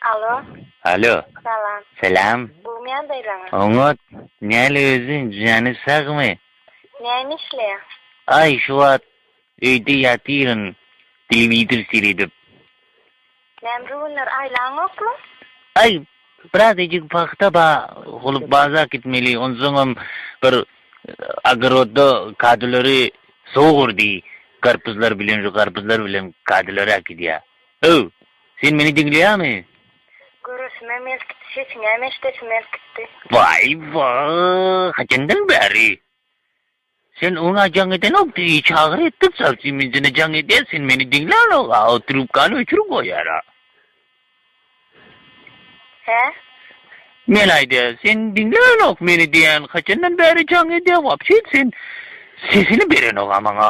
Alo. Alo. Salam. Salam. Gowmyýan daýzaňa. Oňat. Näle özi, jany sagmy? Näme işleýäň? Aý, şu wagt öýde ýatyryn, telewizor seredip. Näme şu günler aýlaňokmy? Aý, biraz ejik pagta ba, holup bazar gitmeli, onsoňam bir ogorodda kadylary sowurdy, garpyzlar bilen şu garpyzlar bilen kadylary äkidýär. Öw! Sen meni diňleýäňmi? Göresime melkitdi, sesiňem eşidesim melkitdi. Waý-wa, haçandan bäri? Sen oňa jaň edenokdy, iý çagyr etdik, çalsy minjine jaň edýär, sen meni diňlänok-a, o trubkany öçürip goýýar-a. Hä? Men aýdýa, sen diňlänok meni diýän, haçandan bäri jaň edýä, wapşe sen sesini berenok-a maňa.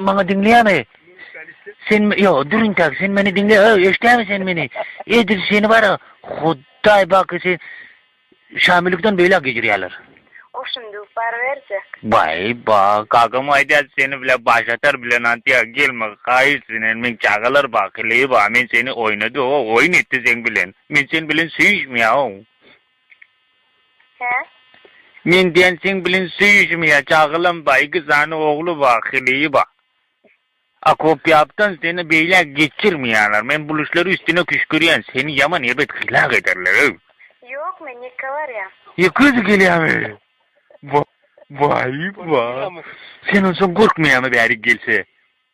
Maňa diňleýämi? Sen ýok, durun tak, sen meni diňle, öý, eşdämi sen meni? Edil seni bara, Hudaý baky sen Şamillikden beýläk gecirýärler. O şundyk bar berjek. Baý, ba, kakam aýdýar, seni bile baş atar bilen antýa, gelme, haýyş senen, meň çagalar ba, heleý ba, men seni oýnady, o, oýun etdi sen bilen. Men sen bilen söýüşmeýäow. Hä? Men diýen seň bilen söýüşim ýa jagylam bar iki sany ogly bar heleýi bar. Akopýapdan seni beýle geçirmeýärler men bul işleri üstüne küşgürýän seni ýaman erbet hylak ederler öý. Ýok men ýeke barýan. Ýeke özi gelýämi? Waý waý. Sen onsoň gorkmaýamy bäri gelse.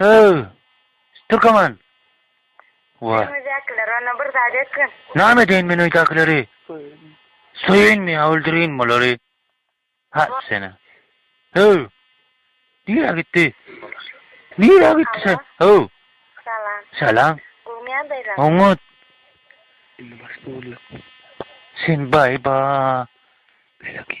Öw, Türkeman! Wa. Öýdäkiler onda bir zat etgin. Name edeýin men öýdäkileri? Söýeýinmi ýa öldüreýinmi olary? Ha, seni. Öw! Nirä gitdi? Nirä gitdi sen? Öw! Salam. Salam. Gowmyýa daýza? Oňat. Indi başda bolýar. Sen baý-ba. Beleki.